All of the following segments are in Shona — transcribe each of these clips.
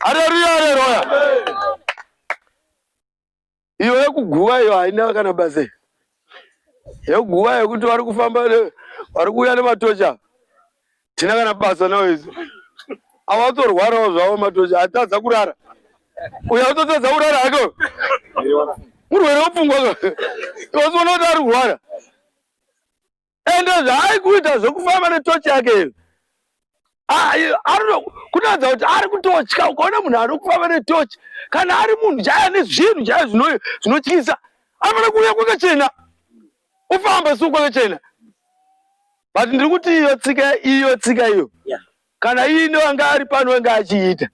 Haleluya, haleluya. Iyo yekuguva iyo haina kana basa. Yekuguva yekuti vari kufamba vari kuuya nematocha. Tina kana basa nawo izo. Avatorwarawo zvavo matocha, atadza kurara. Uyo atotadza kurara hako. Murwere wepfungwa. Iwe unoda ari kurwara. ende zvaaikuita zvekufamba netochi yake ivi kunoratidza kuti ari kutotya ukaona munhu ari kufamba netochi kana ari munhu chaya nezvinhu chaya zvinotyisa anofanira kuuya kwakachena ufamba si kwakachena but ndiri kuti iyo tsika iyo tsika iyo kana iine wanga ari pano wanga achiita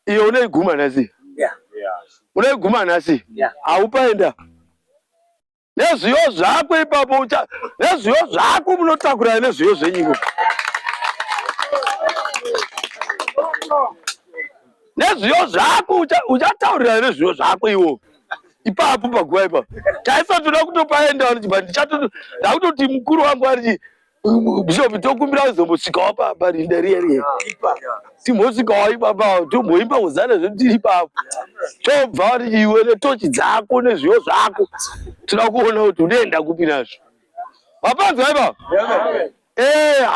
iyo unoiguma nhasi unoiguma nhasi haupaenda yeah. nezviyo zvako ipapo ucha nezviyo zvako munotakurana nezviyo zvenyiko nezviyo zvako uchataurirana nezviyo zvako iwo ipapo paguva ipapo taisa toda kutopaenda ndichatoda ndakutoti mukuru wangu ariti Bishop tokumbira uzombosvikawo pamba rinda riya riya timbosvikawo ipapa tomboimba hozana zvedu tiri ipapa tobva iwe netochi dzako nezviyo zvako toda kuona kuti unoenda kupi nazvo vapanzwa ipapa eh,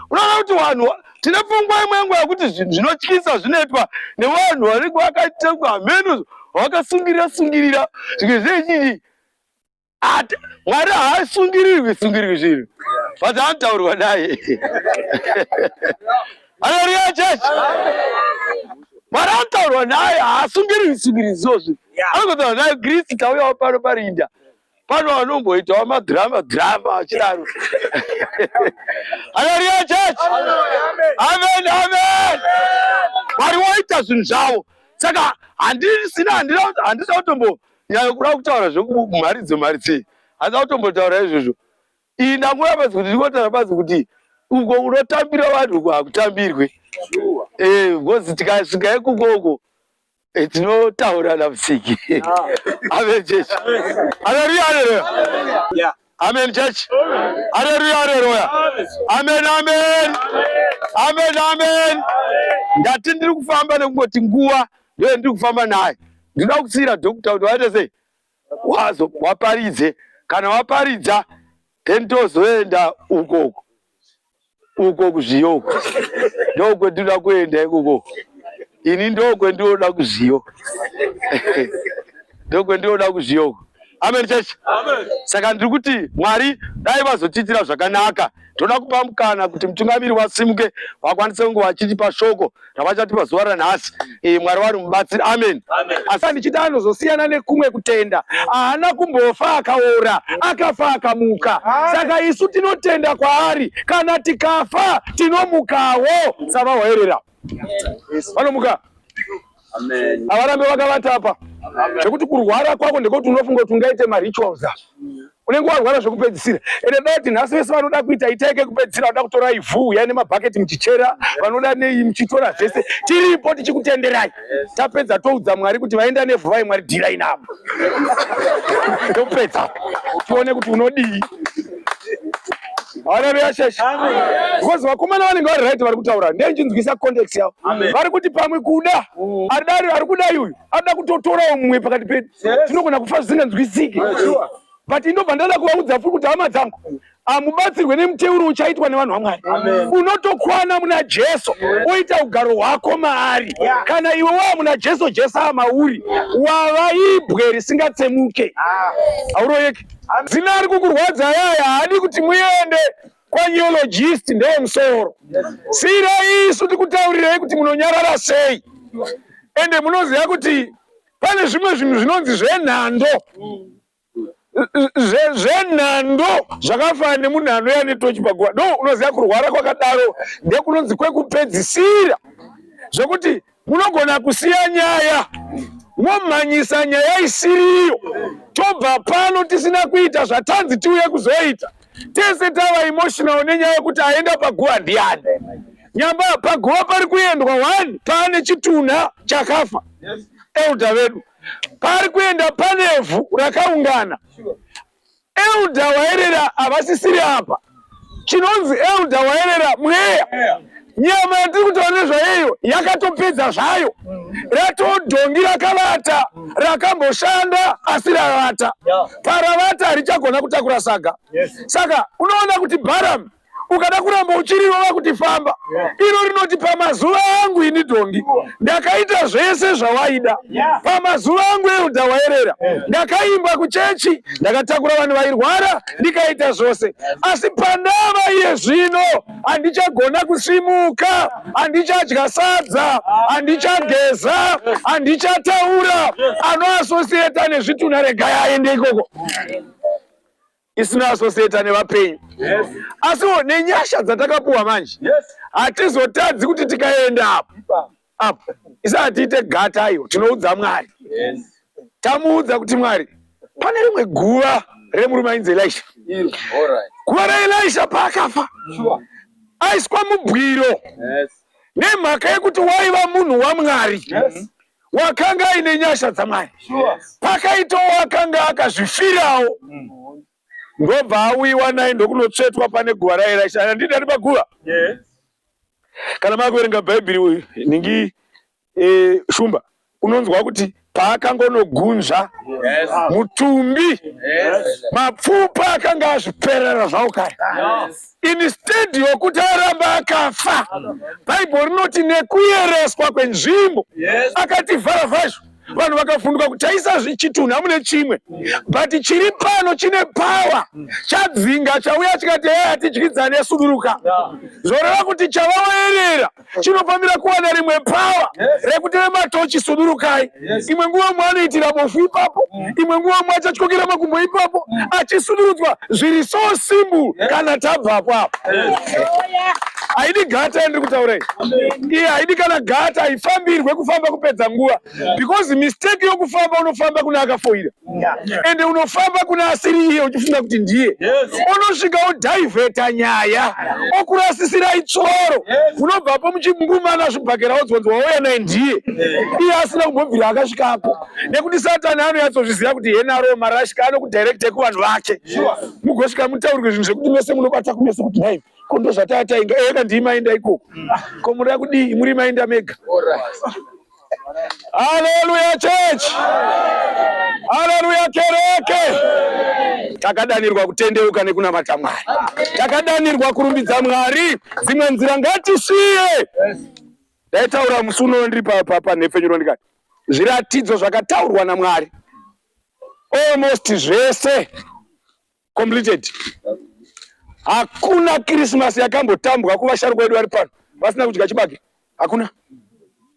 unoona kuti vanhu tine pfungwa imwe yangu yakuti zvinhu zvinotyisa zvinoitwa nevanhu vanenge vakaita hameno vakasungirira sungirira zvimwe zvechiii Ati Mwari haasungirirwi sungirirwi zvinhu. But anotaurwa naye. Hallelujah church. Mwari anotaurwa naye haasungirirwi sungirirwi zozvi. Anotaurwa naye Kristu tauyawo pano parinda. Pano vanomboitawo madrama drama achidaro. Hallelujah church. Amen amen. Mwari woita zvinhu zvavo. Saka handisina handisina kutombo Nyaya kuda kutaura zvekumhari dzemhari dzei hasa kutombotaura izvozvo iyi ndangura bazi kuti ndikotara bazi kuti uko kunotambira vanhu uko hakutambirwe eh, bcoz tikasvika ikuko uko eh, tinotaurana musiki ah. avechechi aleluya aleluya Amen church. Haleluya haleluya. Amen amen. Amen amen. Ndati ndiri kufamba nekungoti nguva ndiyo ndiri kufamba naye. Ndinoda kutsira doctor kuti waite sei? Wazo waparidze kana waparidza then tozoenda uko uko. uko kuzviyo uko ndokwendinoda kuenda ikoko ini ndokwendinoda kuzviyo ndokwendinoda kuzviyo uko amen church amen saka ndiri kuti mwari dai vazotiitira zvakanaka toda kupa mukana kuti mutungamiri wasimuke vakwanise kunge vachitipa shoko zvavachati pazuva ranhasi eh, mwari wari mubatsiri amen asi andichiti anozosiyana nekumwe kutenda haana kumbofa akaora akafa akamuka saka isu tinotenda kwaari kana tikafa tinomukawo savahoerera vanomuka havarambe vakavata apa zvekuti kurwara kwako ndekuti unofunga kuti ungaite marituals unenge warwara zvekupedzisira ende dati nhasi vese vanoda kuita itai kekupedzisira vanoda kutora ivhu uyai nemabhaketi muchichera vanoda nei muchitora zvese tiripo tichikutenderai tapedza toudza mwari kuti vaenda nevhu vai mwari dhirai navo topedza tione kuti unodii haleluya sheshe because vakomana vanenge vari right vari kutaura ndeinjinzwisa context yavo vari kuti pamwe kuda mm. adari ari kudai uyu anoda kutotorawo mumwe pakati pedu tinogona kufa zvisinganzwisike but inobva ndada kuvaudza furi kuti hama dzangu hamubatsirwe nemuteuro uchaitwa nevanhu vamwari unotokwana muna jesu oita ugaro hwako maari kana iwe waa muna jesu jesu amauri wava ibwe risingatsemuke ah. hauroyeki zina ari kukurwadza yaya haadi kuti muende kwaneologist ndeye musoro siira isu tikutaurirei kuti munonyarara sei ende munoziva kuti pane zvimwe zvinhu zvinonzi zvenhando zvenhando zvakafanana nemunhu anouya ane tochi paguva do unoziva kurwara kwakadaro ndekunonzi kwekupedzisira zvekuti munogona kusiya nyaya momhanyisa nyaya isiriyo tobva pano tisina kuita zvatanzi tiuye kuzoita tese tava emotional nenyaya yekuti aenda paguva ndiani nyamba paguva pari kuendwa one paane chitunha chakafa elda vedu pari kuenda panevhu rakaungana elda waerera havasisiri apa chinonzi elda waerera mweya nyama yatiri kutaura nezvayeyo yakatopedza zvayo ratodhongi rakavata rakamboshanda asi ravata paravata harichagona kutakura saga saka unoona kuti bharamu ukada kuramba uchirirova kuti famba iro rinoti pamazuva angu ini dhongi ndakaita zvese zvawaida pamazuva angu euda waerera ndakaimba kuchechi ndakatakura vanhu vairwara ndikaita zvose asi pandava iye zvino handichagona kusimuka, handichadya sadza, handichageza, handichataura. Anoasosieta nezvitunha, regai aende ikoko isina asosieta nevapenyu yes. Asiwo nenyasha dzatakapuwa manje hatizotadzi yes. Hatizotadzi kuti tikaenda apo apo isati tiite gata ayo tinoudza mwari tamuudza kuti mwari pane rimwe guva remurume ainzi elisha guva raelisha paakafa aiswa mubwiro nemhaka yekuti waiva munhu wamwari wakanga aine nyasha dzamwari pakaitawo akanga akazvifirawo mm. ndobva auyiwa naye ndokunotsvetwa pane guva raye raisha handidi ati paguva kana makuverenga bhaibheri uyu ningi e, shumba unonzwa kuti paakangonogunzva mutumbi mapfupa akanga azviperera zvawo kare instead yokuti aramba akafa bhaibheri rinoti nekuyereswa kwenzvimbo akativhara vhazvo vanhu vakafunduka kuti taisa zvichitunhu hamune chimwe but chiri pano chine power chadzinga chauya chikati hee hatidyidzane suduruka zvoreva kuti chavaoerera chinofanira kuwana rimwe power rekuti vematochi sudurukai imwe nguva mwe anoitira bofu ipapo imwe nguva mwe achatyokera makumbo ipapo achisudurudzwa zviri so simbu kana tabvapo apo haidi gata yandiri kutaura iyi iye haidi kana gata haifambirwe kufamba kupedza nguva because mistake yokufamba unofamba kuna akafoira ende unofamba kuna asiri iye uchifunga kuti ndiye unosvika odhaivheta nyaya okurasisirai tsoro unobvapo muchimungumana zvibhakera wodzwanzi wauya naye ndiye iye asina kumbobvira akasvikapo nekuti satani anoyatsozviziva kuti henaro marashika anokudhairekta kuvanhu vake mugosvika mutaurwe zvinhu zvekuti mese munobata kumese kuti naivi ko ndozvataa tainga eka ndii mainda ikoko ko muda kudii muri mainda mega haleluya church haleluya kereke takadanirwa kutendeuka nekunamata mwari takadanirwa kurumbidza mwari dzimwe nzira ngatisiye ndaitaura musi unono ndiri panhepfenyuro ndikati zviratidzo zvakataurwa namwari almost zvese completed hakuna kirismasi yakambotambwa kuvasharukwa vedu vari pano vasina kudya chibage hakuna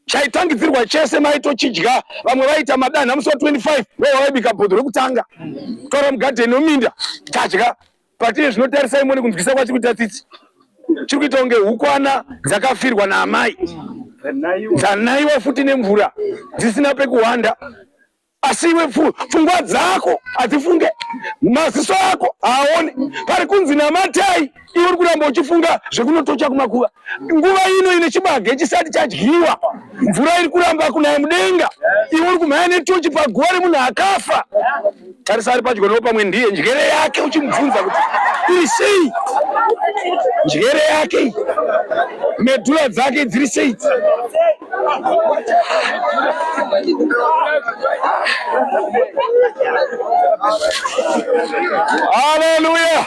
chaitangidzirwa chese maitochidya vamwe vaita madanha musi wa 25 ndovaibika bhodho rekutanga tora mugadheni weminda tadya patiye zvinotarisai mone kunzwisa kwachiri kuita tsitsi chiri kuita kunge hukwana dzakafirwa naamai dzanaiwa futi nemvura dzisina pekuhwanda asi iwe pfungwa dzako hadzifunge maziso ako haaone pari kunzi namatai iwe uri kuramba uchifunga zvekunotocha kumakuva nguva ino ine chibage chisati chadyiwa mvura iri kuramba kunaya mudenga iwe uri kumhaya netochi paguva remunhu akafa tarisa ari padyo noo pamwe ndiye njere yake uchimubvunza kuti iri sei njere yake medhura dzake dziri sei Hallelujah.